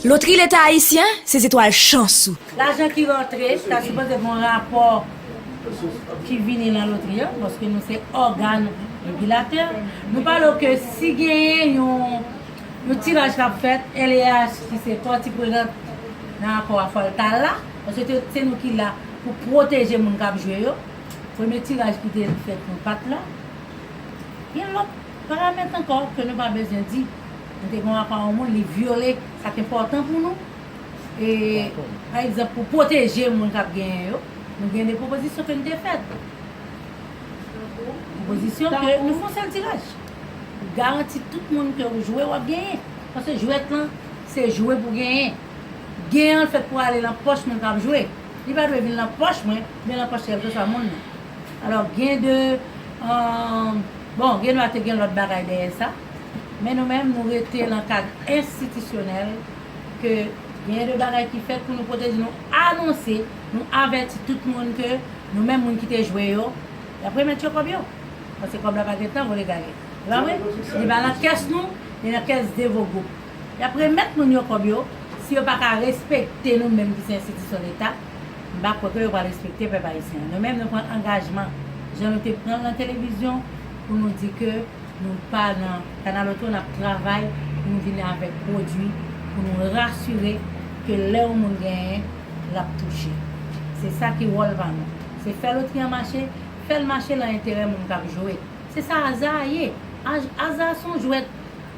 Lotri Leta Ayisyen, se zetwal chans ou. Lajan ki rantre, sa sipoze gon rapò ki vini lan lotri an, paske nou se ògan regilatè. Nou pale w ke si genyen yon tiraj kap fèt, LEH ki se pati prenant nan akò a fòl ta la, paske se nou ki la pou pwoteje moun kap jwe yo. Premye tiraj ki te fèt nan pat la. Gen lòt paramèt ankò ke nou pa bezwen di. Nou te gen yon akò yon moun li vyole sa k enpòtan pou nou. E pa egzanp pou pwoteje moun k ap genyen yo, nou gen 2 pwopozisyon ke nou te fèt. Pwopozisyon ke nou fè yon sèl tiraj. Ou garanti tout moun ke ou jwe w ap genyen. Paske jwèt lan se jwe pou genyen. Gen an fèt pou ale lan pòch moun kap jwe. Li pa dwe vin lan pòch mwen, men lan pòch kèlkeswa moun nan. Alò gen de, umm, bon gen dwa te gen lòt bagay dèyè sa, men nou menm nou rete lan kad enstitisyonèl ke gen de bagay ki fèt pou nou pwoteje, nou anonse, nou avèti tout moun ke nou menm moun ki te jwe yo, yap remèt yo kòb yo. Paske kòb la pa gen tan vole gaye. Se pa vre? Li pa lan kès nou, li lan kès Devo Group. Y ap remèt moun yo kòb yo, si yo pa ka respekte nou menm ki se enstitisyon leta, m pa kwè ke yo pral respekte pèp ayisyen. Nou menm nou pran angajman, jan nou te pran l nan televizyon, pou nou di ke nou pa nan kanaloto, n ap travay pou nou vin avèk pwodui pou nou rasire ke lè yon moun genyen, l ap touche. Se sa ki wòl pa nou. Se fè lotri an mache, fè l mache lan enterè moun k ap jwe. Se sa aza a ye. Aza a se yon jwèt.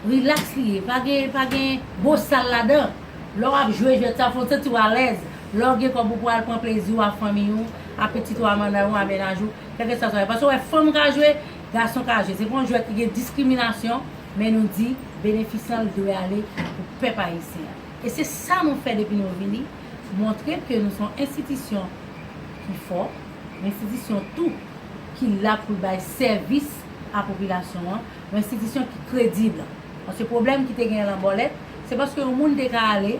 Relax li ye, pa gen pa gen bosal ladan. Lè w ap jwe jwèt sa, fò w santi w alèz. Lè w gen kòb ou pou al pran plezi w a fanmiy ou, a pitit ou a manay ou a mennaj ou, kèlkeswa sa ye. Paske w wè fanm ka jwe, gason ka jwe. Se pa yon jwèt ki gen diskriminasyon, men nou di benefis lan li dwe ale pou pèp ayisyen an. E se sa nou fè depi nou vini, montre ke nou se yon enstitisyon ki fò, yon enstitisyon tou ki la pou l bay sèvis a popilasyon an. Yon enstitisyon ki kredib. Paske pwoblèm ki te genyen lan Bòlèt, se paske yon moun te ka ale,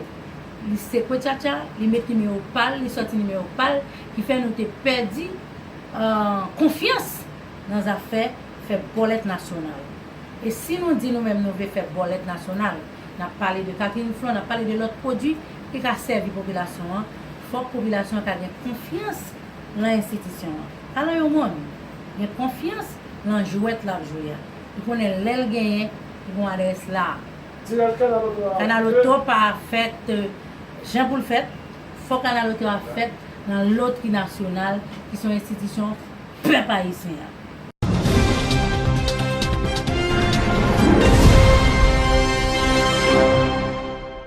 li sekwe tchatcha, li met nimewo pa l, li sòti nimewo pa l, ki fè nou te pèdi konfyans nan zafè fè bòlèt nasyonal. E si nou di nou menm nou vle fè bòlèt nasyonal, n ap pale de Catherine Flon, n ap pale de lòt pwodui ki ka sèvi popilasyon an, fòk popilasyon an ka gen konfyans, lan enstitisyon an. Ala yon mond! Gen konfyans lan jwèt lap jwe a. Li konnen lèl genyen li gon adrès la. Tiraj kanal oto a Kanal oto pa fèt jan poul fèt, fò kanal oto a fèt lan lotri nasyonal ki son enstitisyon pèp ayisyen an.